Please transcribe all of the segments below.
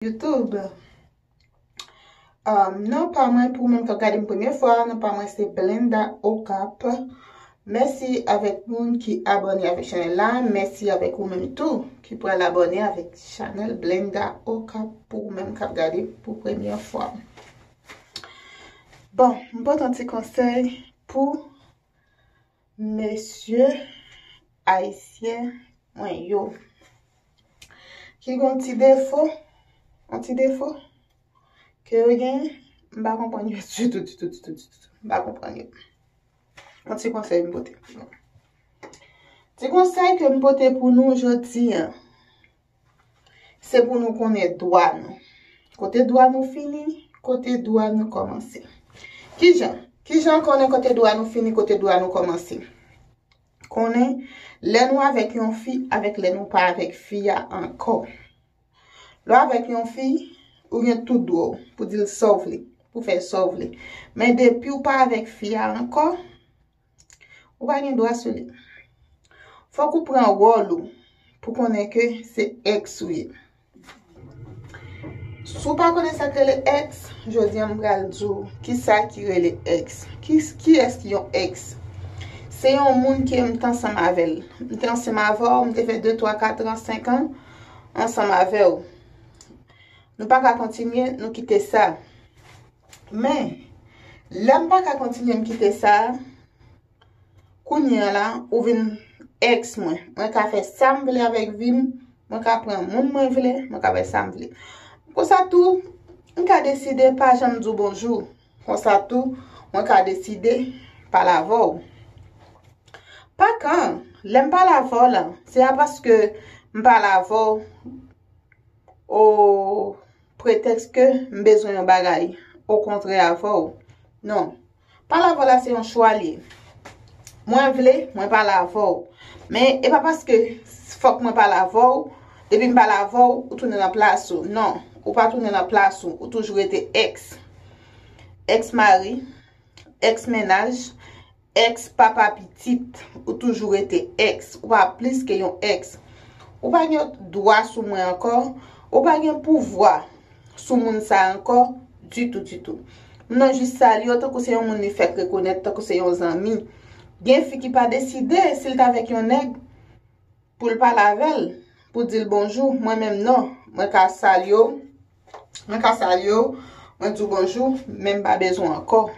YouTube Non pa mwen pou moun kap gadem premye fwa non pa mwen se Belinda Okap Mèsi avèk moun ki abòne avèk chanèl la Mèsi avèk ou menm tou ki pral abòne avèk chanèl Belinda Okap pou ou menm kap gade pou premye fwa Bon, m pote yon ti konsèy pou Mesye ayisyen mwen yo. Ki gon ti defo, yon ti defo, ke yo gen, m pa konprann yo ditou, ditou, ditou, ditou. M pa konprann yo. Yon ti konsèy m pote pou nou. Ti konsèy ke m pote pou nou jodi an. Se pou nou konnen dwa nou. Kote dwa nou fini, kote dwa nou kòmanse. Ki jan? Ki jan konnen kote dwa nou fini, kote dwa nou kòmanse? Konnen lè nou avèk yon fi avèk lè nou pa avèk fi a ankò. Lè w avèk yon fi, ou gen tout dwa w pou di l sa w vle, pou fè sa w vle. Men depi w pa avèk fi a ankò, Ou pa gen dwa sou li. Fòk ou pran wòl ou pou konnen ke se èks ou ye. Si w pa konnen sa k rele èks, jodi an m pral di w ki sa ki rele èks. Kiyès ki yon èks? Se yon moun ke m te ansanm avè l. M te ansanm avè w, m te fè de, twa, kat ran, senk an ansanm avè w. Nou pa ka kontinye, nou kite sa. Men, lè m pa ka kontinye m kite sa, kounye a la, ou vin ex mwen. Mwen ka fè sa m vle avèk vi m, mwen ka pran moun mwen vle, mwen ka fè sa m vle. Konsa tou, m ka deside pa janm di w bonjou. Konsa tou, mwen ka deside pa la avè w. Pa kan, lè m pa la avè w la, se pa paske m pa la avè w, ou Pretèks ke m bezwen yon bagay okontrè avè w. Non. Pale avè w la se yon chwa l ye. Mwen vle, mwen pale avè w. Men, e pa paske fòk mwen pale avè w, depi m pale avè w, ou tounen nan plas ou. Non. Ou pa tounen nan plas ou. Ou toujou rete ex. Ex mari. Ex mennaj. Ex papa pitit ou toujou rete ex ou pa plis ke yon ex ou pa gen dwa sou mwen ankò ou pa gen pouvwa sou moun sa ankò ditou ditou m nan jis salye w tankou se yon moun li fèk rekonèt tankou se yon zanmi gen fi ki pa deside si l t avèk yon nèg pou l pale avè l pou di l bonjou mwen menm non mwen ka salye w mwen ka salye w mwen di w bonjou men m pa bezwen ankò.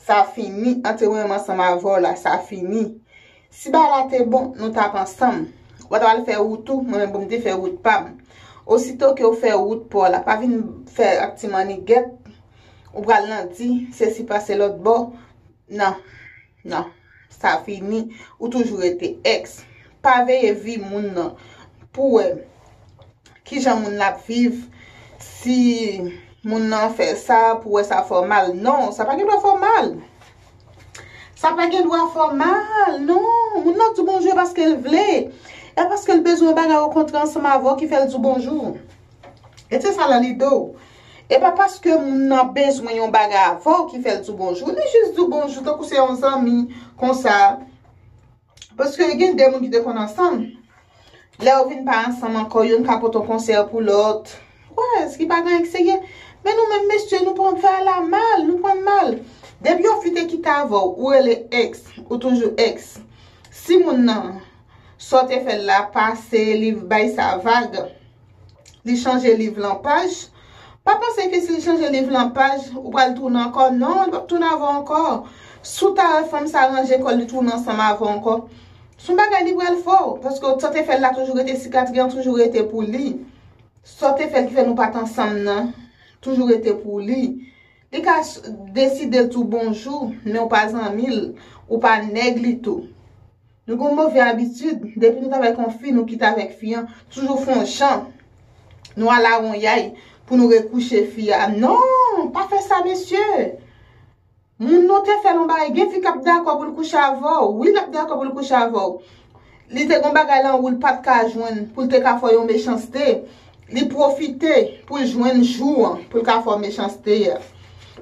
Sa fini, anterwen m ansanm avè w la, sa fini. Si bagay la te bon, nou t ap ansanm. Ou pa t apral fè wout ou, mwen menm pou m te fè wout pa m. Osito ke w fè wout pa w la, pa vin fè ak ti mannigèt, ou pral nan di, se si pase lòtbò, nan. Non. Sa fini. Ou toujou rete ex. Pa veye vi moun nan pou wè kijan moun nan ap viv, si moun nan fè sa pou wè sa fè w mal. Non, sa pa gen dwa fè w mal. Sa pa gen dwa fè w mal. Non. Moun nan di bonjou e paske l vle. E paske l bezwen yon bagay okontrè ansanm avè w ki fè l di w bonjou. E se sa lan lide w. E pa paske moun nan bezwen yon bagay avè w ki fè l di w bonjou. Li jis di w bonjou tankou se yon zanmi konsa. Paske gen de moun ki te konn ansanm. Lè yo vin pa ansanm ankò, youn ka pote yon konsèy pou lòt. Wè, eske pa gen anyen serye? Men nou menm mesye, nou pran fè a la mal, nou pran l mal. Depi yon fi te kite avè w, ou rele ex, ou toujou ex. Si moun nan, sa w te fè l la pase, li bay sa vag. Li chanje liv lan paj. Pa panse ke si li chanje liv lan paj, ou pral tounen ankò. Non, li pap tounen avè w ankò. Si w ta wè fanm sa ranje kò l, li tounen ansanm avè w ankò, se yon bagay li pral fè w. Paske sa w te fè l la toujou rete, sikatri an toujou rete pou li. Sa w te fè l ki fè nou pa t ansanm nan toujou rete pou li. Li ka deside l tou bonjou, men ou pa zanmi l, ou pa nèg li tou. Nou gen yon move abitid, depi nou t avèk yon fi, nou kite avèk fi an, toujou fè yon jan, nou alawonyay pou nou rekouche fi a. Non! Pa fè sa mesye! Moun nou te fè l yon bagay, gen fi k ap dakò pou l kouche avè w, wi l ap dakò pou l kouche avè w. Li te gen yon bagay lan wou l pa t ka jwenn pou l te ka fè w yon mechanste, li pwofite pou l jwenn jou an pou l ka fè w mechanste a.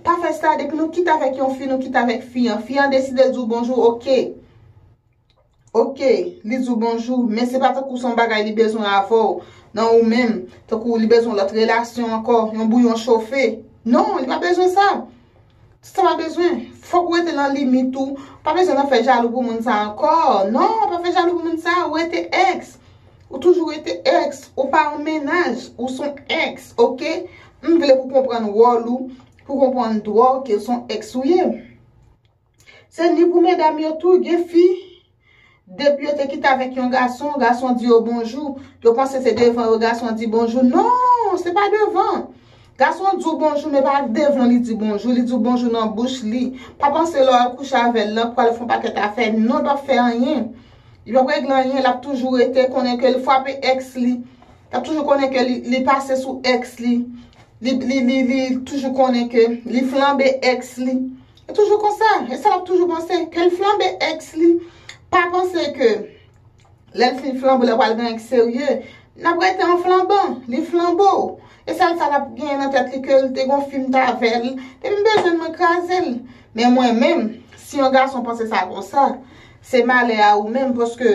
Pa fè sa, depi nou kite avèk yon fi, nou kite avèk fi an. Fi an deside l di w bonjou, ok. Ok, li di w bonjou, men se pa tankou son bagay li bezwen avè w, nan ou menm, tankou li bezwen lòt relasyon ankò, yon bouyon chofe. Non, li pa bezwen sa. Se sa pa bezwen. Fòk ou rete nan limit ou. Pa bezwen nan fè jalou pou moun sa ankò. Non, pa fè jalou pou moun sa. Ou rete ex. Ou toujou rete ex. Ou pa an mennaj. Ou son ex. Ok? M vle pou konprann wòl ou. Pou konprann dwa w ke son ex ou ye. Se ni pou medam yo tou, gen fi, depi yo te kite avèk yon gason, gason di yo bonjou, yo panse se devan yo gason di bonjou. Non, se pa devan. Gason di w bonjou men pa devan w li di bonjou, li di w bonjou nan bouch li. Pa panse lè w al kouche avè l lan pou al fè yon pakèt afè. Non, li p ap fè anyen. Li p ap regle anyen, l ap toujou rete konnen ke li fwape èks li. L ap toujou konnen ke li pase sou èks li. Li toujou konnen ke li flanbe èks li. Li toujou konsa, e sa lap toujou panse, ke l flanbe ex li, pa panse ke lè l fin flanbe w la pral gen yon ex serye, nap rete an flanban, li flanbe w, e sèl sa lap gen nan tèt li ke l te gon fi m t avè l, depi m bezwen l mwen kraze l, men mwen menm si yon gason panse sa konsa, se malè a ou menm paske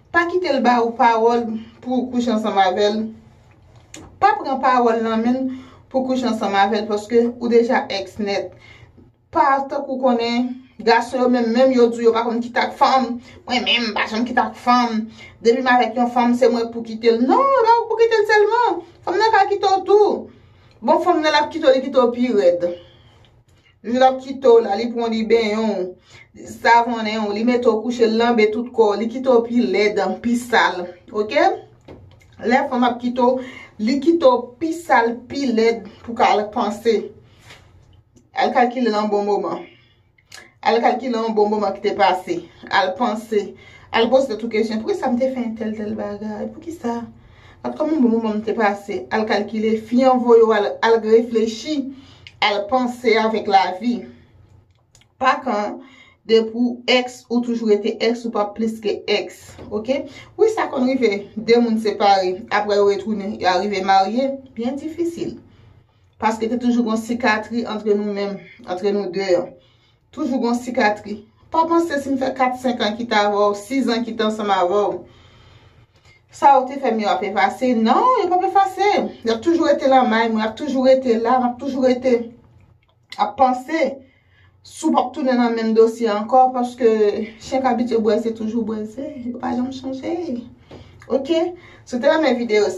Pa kite l ba ou pawòl pou ou kouche ansanm avè l. Pa pran pawòl nan men l pou kouche ansanm avè l paske ou deja èks nèt. Pa tankou konnen gason yo menm menm yo di w yo pa konn kite ak fanm. Mwen menm m pa janm kite ak fanm. Depi m avèk yon fanm se mwen k pou kite l. Non, e pa ou k pou kite l sèlman. Fanm nan ka kite w tou. Bon fanm nan l ap kite w li kite w pi rèd. L ap kite w la, li pran w li benyen w, li savonnen w, li mete w kouche, li lanbe tout kò w, li kite w pi lèd, pi sal. Ok? Lè fanm ap kite w, li kite w pi sal, pi lèd pou w ka al panse. Al kalkile nan bon moman. Al kalkile yon bon moman ki te pase. Al panse. Al poze tèt ou kesyon. Pou ki sa m te fè entèl tèl bagay? Pou ki sa? Ap kòman bon moman m te pase? Al kalkile. Fi an voye w al reflechi. Al panse avèk lavi. Pa kan de pou ex ou toujou rete ex ou pa plis ke ex. Ok. Wi sa konn rive. De moun separe. Aprè yo retounen. Yo arive marye. Byen difisil. Paske te toujou gon sikatri antre nou menm. Antre nou de an. Toujou gon sikatri. Pa panse si m fè 4, 5 an kit avè w, 6 an kit ansanm avè w, sa ou te fè m yo ap efase. Non, yo pap efase. Y ap toujou rete lan may mwen, y ap toujou rete la, m ap toujou rete ap panse si w pap tounen nan menm dosye ankò paske chen k abitye bwè ze toujou bwè ze. Yo pa janm chanje. Ok? Si w te renmen videyo sa.